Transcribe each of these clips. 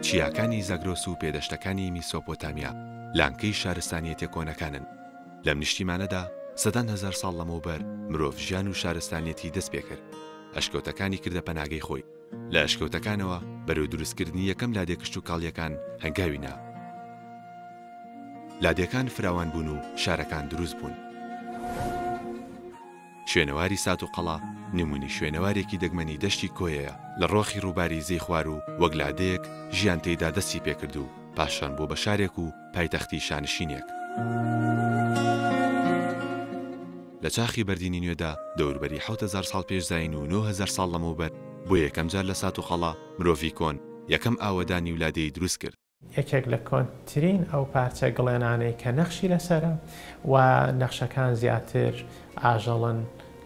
چیاکانی زاگرۆس و پێدەشتەکانی میسۆپۆتامیا لانکەی شارستانیەتە کۆنەکانن لەم نیشتیمانەدا سەدان هەزار ساڵ لەمەوبەر مرۆڤ ژیان و شارستانیەتی دەست پێکرد ئەشکەوتەکانی کردە پەناگەی خۆی لە ئەشکەوتەکانەوە بەرەو دروست کردنی یەکەم لادێ کشت و کاڵیەکان هەنگاوی نا لادێکان فراوان بوون و شارەکان دروست بوون. شوێنەواری سات و قەڵا نمونی شوێنەوارێکی دەگمەنی دەشتی کۆیەیە لە ڕۆخی ڕووباری زەی خوار و وەک لادێک ژیان تێیدا دەستی پێکرد و پاشان بۆ بە شارێک و پایتەختی شانشینێک. لە چاخی بەردینی نوێدا دەوربەری حەوت هەزار ساڵ پێش زایین و نۆ هەزار ساڵ لەمەوبەر بۆ یەکەم جار لە سات و قەڵا مرۆڤی کۆن یەکەم ئاوەدانی و لادێی دروست کرد. یەکێک لە کۆنترین ئەو پارچە گڵێنانەی کە نەخشی لەسەرە و نەخشەکان زیاتر ئاژەڵن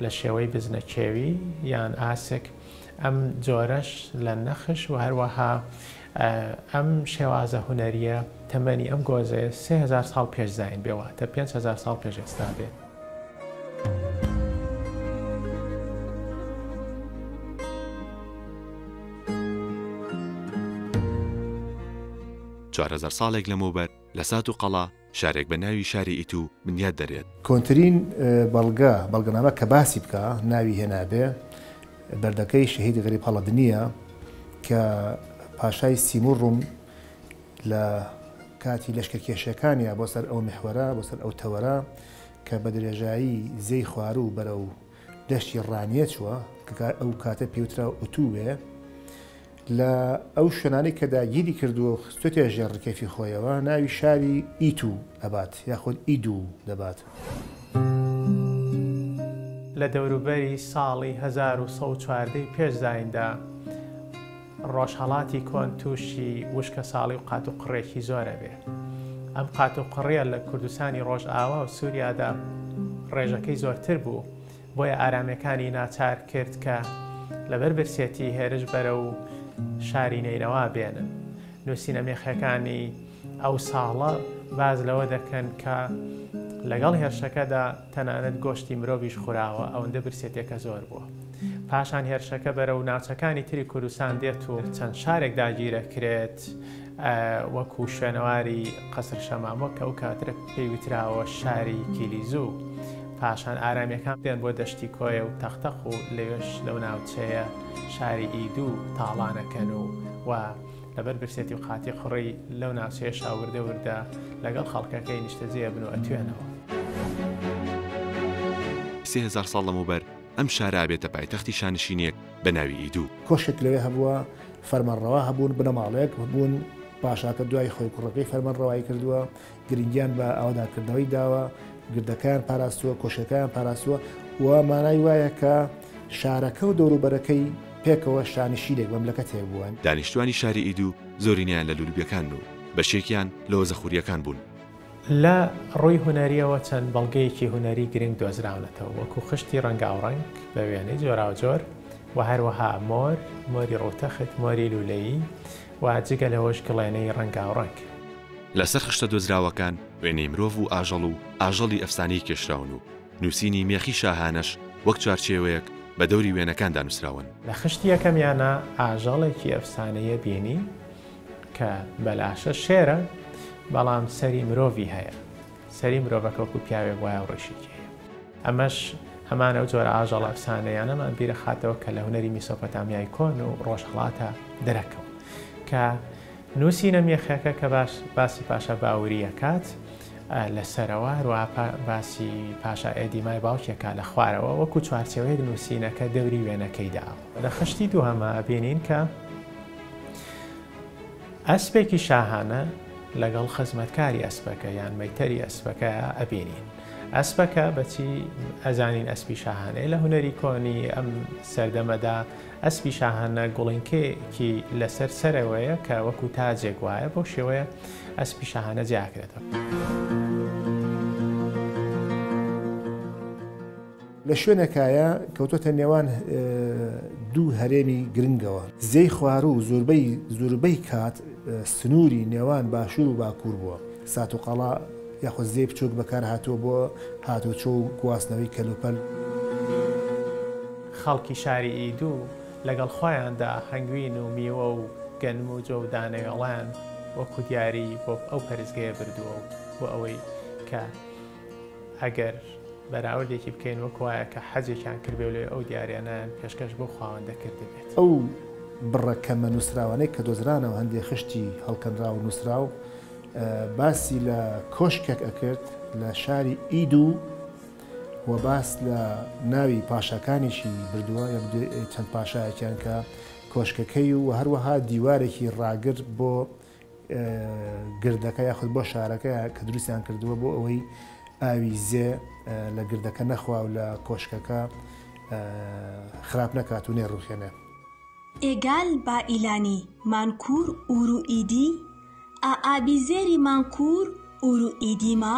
لە شێوەی بزنە کێوی یان ئاسک ئەم جۆرەش لە نەخش و هەروەها ئەم شێوازە هونەرییە تەمەنی ئەم گۆزەیە سێ هەزار ساڵ پێش زایین بێ واتە پێنج هەزار ساڵ پێش ئێستا بێ. چوار هەزار ساڵێک لەمەوبەر لە سات و قەڵا، شارێک بە ناوی شاری ئیتو بنیات دەرێت. کۆنترین بەڵگە، بەڵگەنامە کە باسی بکا ناوی هێنابێ، بەردەکەی شەهید غەریب هەڵەدنییە کە پاشای سیمور ڕوم لە کاتی لەشکەرکێشیەکانیا بۆ سەر ئەو میحوەرە، بۆ سەر ئەو تەوەرە کە بە درێژایی زێی خواروو بەرەو. دەشتی ڕانیەچوە کە ئەو کاتە پێوترا ئوتووێ لە ئەو شوێنانەی کە داگیری کردووە و خستۆتە ژێر ڕکێفی خۆیەوە ناوی شاری ئیتو ئەبات یاخود ئیدو دەبات. لە دەوروبەری ساڵی هەزار و سەد و چواردە ی پێش زایندا، ڕۆژهەڵاتی کۆن تووشی وشکەساڵی و قاتوقڕێکی زۆر ئەبێ. ئەم قاتوقڕیە لە کوردستانی ڕۆژئاوا و سوریادا ڕێژەکەی زۆرتر بوو، بۆیە ئارامیەکانی ناچار کرد کە لەبەر برسێتی هێرش بەرەو شاری نەینەوا بێنن. نووسینە مێخەکانی ئەو ساڵە باس لەوە دەکەن کە لەگەڵ هێرشەکەدا، تەنانەت گۆشتی مرۆڤیش خوراوە، ئەوەندە برسێتیەکە زۆر بووە. پاشان هێرشەکە بەرەو ناوچەکانی تری کوردستان دێت و چەند شارێک داگیرەکرێت وەکو شوێنەواری قەسر شەمامۆ کە ئەو کاترە پێی وتراوە شاری کیلیزو. پاشان ئارامیەکان دێن بۆ دەشتی کۆیە و تەقتەق و لەوێش لەو ناوچەیە شاری ئیدو تاڵانەکەن و و لەبەر برسێتی و قاتی قڕی لەو ناوچەیەشا وردە وردە لەگەڵ خەڵکەکەی نیشتەجێ ئەبن و ئەتوێنەوە. سێ هەزار ساڵ لەمەوبەر ئەم شارە ئەبێتە پایتەختی شانشینێک بە ناوی ئیدو. کۆشکێک لەوێ هەبووە، فەرمانڕەوا هەبوون، بنەماڵەیەک هەبوون، پاشاکە دوای خۆی کوڕەکەی فەرمانڕەوایی کردووە، گرنگیان بە ئاوەدانکردنەوەی داوە، گردەکەیان پاراستووە، کۆشکەکەیان پاراستووە و مانای وایە کە شارەکە و دەوروبەرەکەی پێکەوە شانشینێک، مەملەکەتێک بووەن. دانیشتووانی شاری ئیدو زۆرینەیان لە لولوبیەکانن و بەشێکیان لە وەزەخورییەکان بوون. لە ڕووی هونەرییەوە چەند بەڵگەیەکی هونەری گرنگ دۆزراونەتەوە، وەکوو خشتی ڕەنگاوڕەنگ بە وێنەی جۆراوجۆر و هەروەها مۆر، مۆری ڕووتەخت، مۆری لوولەیی و جگە لەوەش گڵێنەی ڕەنگاوڕەنگ. لەسەر خشتە دۆزراوەکان وێنەی مرۆڤ و ئاژەڵ و ئاژەڵی ئەفسانەیی کێشراون و نووسینی مێخی شاهانەش وەک چوارچێوەیەک بە دەوری وێنەکاندا نووسراون. لە خشتی یەکەمیانا ئاژەڵێکی ئەفسانەیی بینی کە بەلاشە شێرە، بەڵام سەری مرۆڤی هەیە. سەری مرۆڤەکە وەکو پیاوێک وایە و ڕیشێکی هەیە. ئەمەش هەمان ئەو جۆرە ئاژەڵە ئەفسانەییانەمان بیرەخاتەوە کە لە هونەری میسۆپۆتامیای کۆن و ڕۆژهەڵاتا دەرەکەون کە، نووسینە میخەکە کە باش باسی پاشا باوری ئەکات لە سەرەوە، هەروەها پا باسی پاشا ئێدیمای باوکی ئەکات لە خوارەوە، وەکوو چوارچێوەیەک نووسینەکە دەوری وێنەکەی داوە. لە خشتی دووهەما ئەبینین کە ئەسپێکی شاهانە لەگەڵ خزمەتکاری ئەسپەکە یان مەیتەری ئەسپەکە ئەبینین. ئەسپەکە بە چی ئەزانین ئەسپی شاهانەیە؟ لە هونەری کۆنی ئەم سەردەمەدا ئەسپی شاهانە گوڵینکەیەکی لەسەر سەرەوەیە کە وەکو تاجێک وایە بەو شێوەیە ئەسپی شاهانە جیاکرێتەوە. لە شوێنەکایە کەوتۆتە نێوان دوو هەرێمی گرنگەوە زێی خوار و زۆربەی زۆربەی کات سنووری نێوان باشوور و باکوور بووە سات و قەڵا یاخود زێ بچووک بەکار هاتووە بۆ هاتوچۆ و گواستنەوەی کەلوپەل. خەڵکی شاری ئیدو لەگەڵ خۆیاندا هەنگوین و میوە و گەنم و جۆ و دانەوێڵەیان وەکو دیاری بۆ ئەو پەرستگەیە بردووە و بۆ ئەوەی کە ئەگەر بەراوردێکی بکەین وەکو وایە کە حەجێکیان کردبێ و لەوێ ئەو دیاریانەیان پێشکەش بەو خاوەندە کردبێت. ئەو بڕە کەمە نووسراوانەی کە دۆزرانە و هەندێ خشتی هەڵکەنراو و نووسراو باسی لە کۆشکێک ئەکرد لە شاری ئیدو، و باس لە ناوی پاشاکانیشی بردووە یە چەند پاشایەکیان کە کۆشکەکەی و هەروەها دیوارێکی ڕاگر بۆ گردەکە یاخود بۆ شارەکە کە دروستیان کردووە بۆ ئەوەی ئاوی زێ لە گردەکە نەخوا و لە کۆشکەکە خراپ نەکات و نێڕوخێنێ ئێگال با ئیلانی مانکور ئورو ئیدی ئا ئابی زێری مانکور ئورو ئیدی ما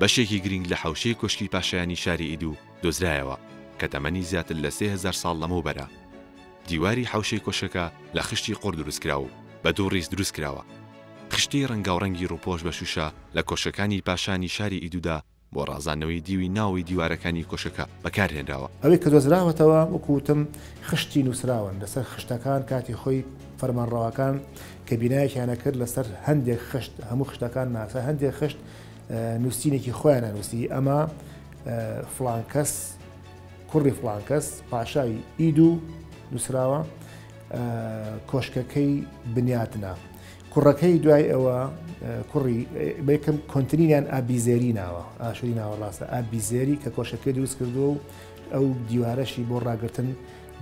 بەشێکی گرینگ لە حەوشەی کۆشکی پاشایانی شاری ئیدو دۆزرایەوە کە تەمەنی زیاتر لە سێ هەزار ساڵ لەمەوبەرە. دیواری حەوشەی کۆشکەکە لە خشتی قوڕ دروستکراوە و بە دوو ڕیز دروستکراوە. خشتەی ڕەنگاوڕەنگی ڕووپۆش بە شووشە لە کۆشکەکانی پاشانی شاری ئیدودا بۆ ڕازاندنەوەی دیوی ناوەوەی دیوارەکانی کۆشکەکە بەکارهێنراوە. ئەوەی کە دۆزراوەتەوە وەکو وتم خشتی نووسراون لەسەر خشتەکان کاتی خۆی فەرمانڕەواکان کە بینایەکیان ئەکرد لەسەر هەندێک خشت هەموو خشتەکان نا لەسەر هەندێک خشت نووسینێکی خۆیان نەنووسی ئەمە فلانکەس کوڕی فلانکەس پاشای ئید و نووسراوە کۆشکەکەی بنیاتنا کوڕەکەی دوای ئەوە کوڕی بەکەم کۆنتترینیان ئابیزێری ناوە ئاشوری ناوەڕاستە ئابیزێری کە کۆشەکەی دروست کردووە و ئەو دیوارەشی بۆ ڕاگرتن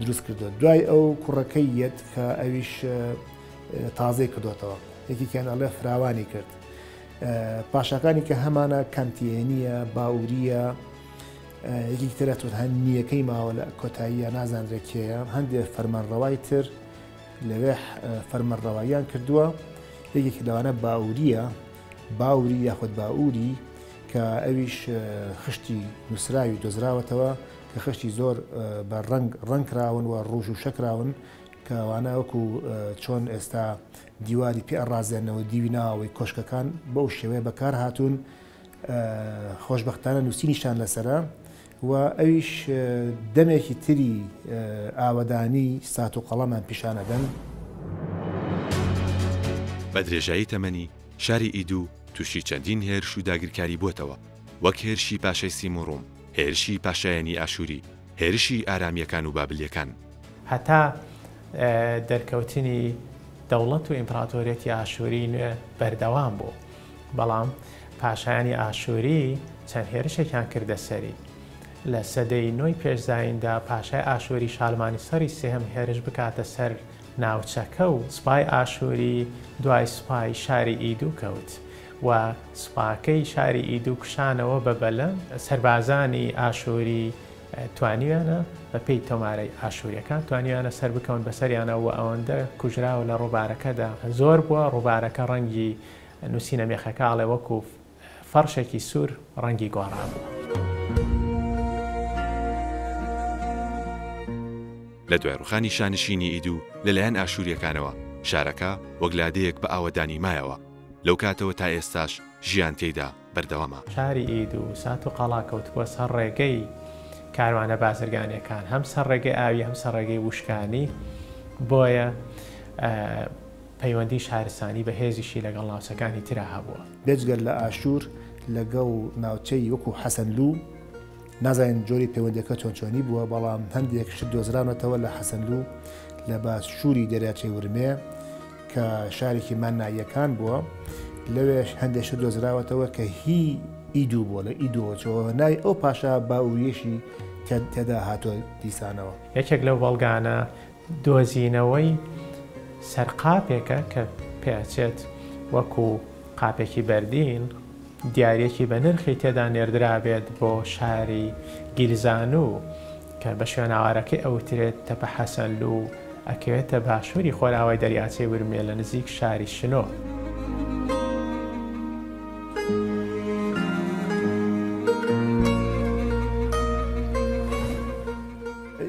دروست کردو دوای ئەو کوڕەکەی یەت کە ئەویش تازەی کردوێتەوە یەکیکیان ئەڵێ فراوانی کرد پاشاکانی کە هەمانە کانتیێنیە باوریە یەکی ترە تۆ هەند نییەکەی ماوە لە کۆتاییە نازانرێت کێە هەندێک فەرمانڕەوای تر لەوێ فەرمەڕەواییان کردووە یەکێکی لەوانە باوریە باوری یاخود باوری کە ئەویش خشتی نووسراوی دۆزراوەتەوە کە خشتی زۆر بە ڕنگ ڕنگکراون و ڕوژ و شەکراون کەوانە وەکو چۆن ئێستا دیواری پێ ئەڕازێنەوە دیوی ناوەوەی کۆشکەکان بەو شێوەیە بەکار هاتوون خۆشببختانە نووسینیشان لەسرە و ئەویش دەمێکی تری ئاوەدانی سات و قەڵەمان پیشانەدەن. بە درێژایی تەمەنی شاری ئیدو تووشی چەندین هێرش و داگیرکاری بووەتەوە وەک هێرشی پاشای سیموڕوم، هێرشی پاشایانی ئاشووری، هێرشی ئارامییەکان و بابلییەکان. هەتا دەرکەوتنی دەوڵەت و ئیمپراتۆریەتی ئاشووریی نوێ بەردەوام بوو، بەڵام پاشایانی ئاشووری چەند هێرشێکیان کردە سەری. لە سەدەی نۆی پێش زاییندا پاشای ئاشووری شالمانیسەری سێهەم هێرش بکاتە سەر ناوچەکە و سوپای ئاشووری دوای سوپای شاری ئیدو کەوت و سوپاکەی شاری ئیدو کشانەوە بە بەلەم سەربازانی ئاشوری توانیویانە بە پێی تۆمارەی ئاشوریەکان توانیویانە سەر بکەون بەسەریانە و ئەوەندە کوژراوە لە ڕووبارەکەدا زۆر بووە ڕووبارەکە ڕەنگی نووسینە مێخەکە ئاڵێ وەکو فەرشێکی سوور ڕەنگی گۆڕابووە. لە دوای ڕوخانی شانشینی ئیدو لەلایەن ئاشوریەکانەوە شارەکە وەک لادێیەک بە ئاوەدانی مایەوە، لەو کاتەوە تا ئێستاش ژیان تێیدا بەردەوامە. شاری ئید و سات و قەڵا کەوتبووە سەر ڕێگەی کاروانە بازرگانیەکان، هەم سەر ڕێگەی ئاوی هەم سەر ڕێگەی ووشکانی، بۆیە پەیوەندی شارستانی بەهێزیشی لەگەڵ ناوچەکانی ترا هەبووە. بێجگە لە ئاشور لەگەڵ ناوچەی وەکو حەسەنلوو نازانین جۆری پەیوەندیەکە چۆنچۆنی بووە، بەڵام هەندێک شت دۆزراونەتەوە لە حەسەنلو لە باشووری دەریاچەی ورمێ کە شارێکی مانناییەکان بووە، لەوێش هەندێک شت دۆزراوەتەوە کە هی ئیدو بووە، لە ئیدۆچەوە ناوی ئەو پاشا باووریەشی تێدا هاتووە دیسانەوە. یەکێک لەو بەڵگانە دۆزینەوەی سەر قاپێکە کە پێچێت وەکو قاپێکی بەردین دیاریەکی بە نرخی تێدا نێردرابێت بۆ شاری گیلزانو کە بە شوێناوارەکەی ئەوترێت تەپە حەسەنلو و ئەکەوێتە باشوری خۆرئاوای دەریاچەی ورمێ لە نزیک شاری شنۆ.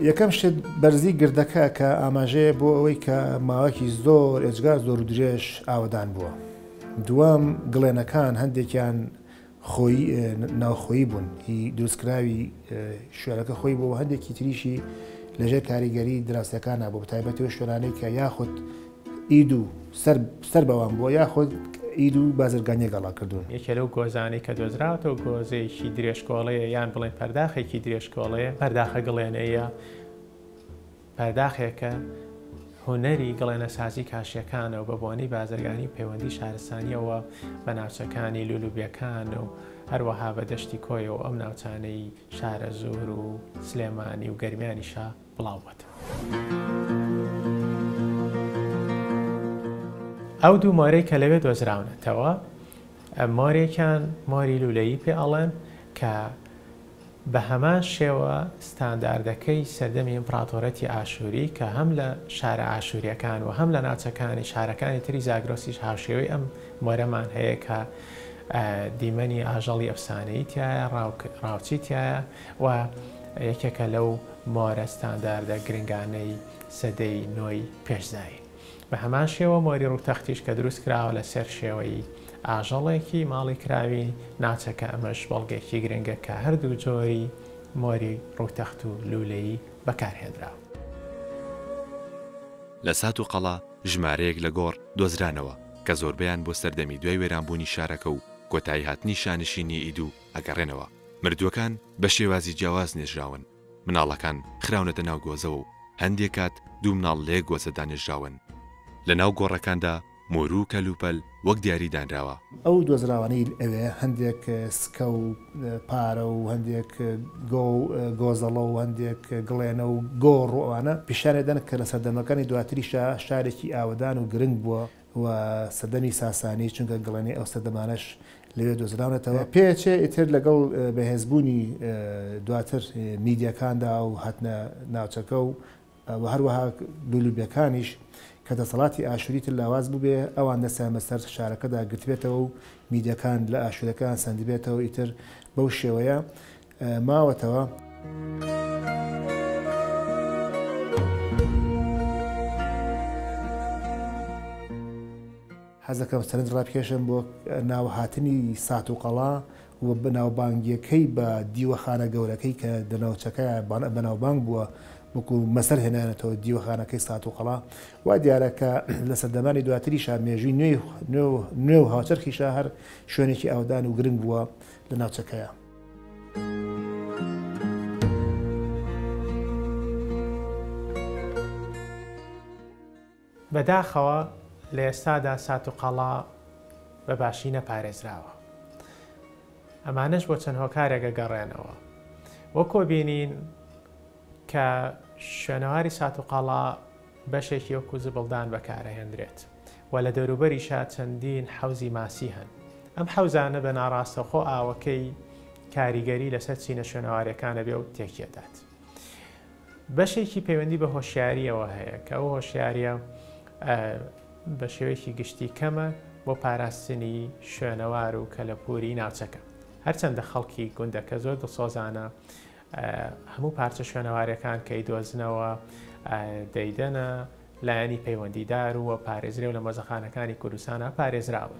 یەکەم شت بەرزی گردەکە کە ئاماژەیە بۆ ئەوەی کە ماوەکی زۆر ئێجگار زۆر و درێژ ئاوەدان بووە. دووەم گڵێنەکان هەندێکیان خۆی ناوخۆی بوون هی دروستکراوی شوێنەکە خۆی بۆ هەندێکی تریشی لەژێر کاریگەری دراستەکان نبوو بە تایبەتەوە شوێنانەی کە یاخود ئید و سەر سەر بەوان بووە یاخود ئید و بازرگانییەک ئاڵا کردوون. یەکێ لەو گۆزانەی کە دۆزراوەتەوە گۆزەیەکی درێژکۆڵەیە یان بڵێین پەرداخێکی درێژکۆڵەیە، پەرداخە گڵێنەییە، پەرداخێکە هونەری گڵێنەسازی کاشییەکانە و بە بۆنەی بازرگانی و پەیوەندی شارستانییەوە بە ناوچەکانی لولوبیەکان و هەروەها بە دەشتی کۆیە و ئەم ناوچانەی شارەزوور و سلێمانی و گەرمیانیشە بڵاو بۆتەوە. ئەو دوو مۆرەی کە لەوێ دۆزراونەتەوە مۆرێکیان مۆری لولەیی پێ ئەڵێن کە بە هەمان شێوە ستانداردەکەی سەردەمی ئیمپڕاتۆرەتی ئاشووری کە هەم لە شارە ئاشووریەکان و هەم لە ناوچەکانی شارەکانی تری زاگرۆسیش هاوشێوەی ئەم مۆرەمان هەیە کە دیمەنی ئاژەڵی ئەفسانەی تایە ڕاوچی تایە و یەکێکە لەو مۆرە ستانداردە گرنگانەی سەدەی نۆی پێش زایین. بە هەمان شێوە مۆری ڕووتەختیش کە دروست کراوە لە سەر شێوەی ئاژەڵێکی ماڵی کراوی ناوچەکە ئەمەش بەڵگەیەکی گرنگە کە هەردوو جۆری مۆری ڕووتەخت و لوولەیی بەکار هێنراوە. لە سات و قەڵا ژمارەیەک لە گۆڕ دۆزرانەوە کە زۆربەیان بۆ سەردەمی دوای وێرانبوونی شارەکە و کۆتایی هاتنی شانشینی ئیدوو ئەگەڕێنەوە، مردووەکان بە شێوازی جیاواز نێژراون، مناڵەکان خراونەتە ناو گۆزەوە و هەندێک کات دوو مناڵ لە یەک گۆزەدا نێژراون. لە ناو گۆڕەکاندا مۆرو و کەلوپەل وەک دیاری دانراوە. ئەو دۆزراوانەی ئەوێ هەندێک سکە و پارە و هەندێک گۆ و گۆزەڵە و هەندێک گڵێنە و گۆڕ و ئەوانە پیشانی ئەدەن کە لە سەردەمەکانی دواتریشا شارێکی ئاوەدان و گرنگ بووە و سەدەمی ساسانی، چونکە گڵێنەی ئەو سەردەمانەش لەوێ دۆزراونەتەوە. پێچێ ئیتر لەگەڵ بەهێزبوونی دواتر میدەکاندا و هاتنە ناوچەکە و و هەروەها لولوبیەکانیش کە دەسەڵاتی ئاشووری تر لاواز بووبێ، ئەوان دەستیان بەسەر شارەکەدا گرتبێتەوە و میدەکان لە ئاشوورەکان سەندبێتەوە، ئیتر بەو شێوەیە ماوەتەوە. حەزەکەم سەرنج ڕابکێشم بۆ ناوهاتنی سات و قەڵا و بەناوبانگیەکەی بە دیوەخانە گەورەکەی کە دەناوچەکە بەناوبانگ بووە وەکو مەسەر هێنانێتەوە دیوەخانەکەی سات و قەڵا وا دیارەکە لە سەردەمانی دواتریشا مێژوی نوێ و هاوچەرخیشە هەر شوێنێکی ئاودان و گرنگ بووە لە ناوچەکەیە. بەداخەوە لە ئێستادا سات و قەڵا بە باشی نەپارێزراوە ئەمانەش بۆ چەند هۆکارێکە گەڕێنەوە وەکۆ بینین کە شوێنەواری سات و قەڵا بەشێکی وەکو زبڵدان بەکارئەهێندرێت و لە دەوروبەریشا چەندین حەوزی ماسی هەن. ئەم حەوزانە بە ناڕاستەوخۆ ئاوەکەی کاریگەری لەسەر چینە شوێنەوارەکان ئەبێ و تێکیئەدات. بەشێکی پەیوەندی بە هۆشیارییەوە هەیە کە ئەو هۆشیارییە بە شێوەیەکی گشتی کەمە بۆ پاراستنی شوێنەوار و کەلەپووری ناوچەکە. هەرچەندە خەڵکی گوندەکە زۆر دڵسۆزانە هەموو پارچە شوێنەوارەکان کە ئیدۆزنەوە دەیدەنە لایەنی پەیوەندیدار و پارێزرێ و لە مۆزەخانەکانی کوردستانە پارێزراون.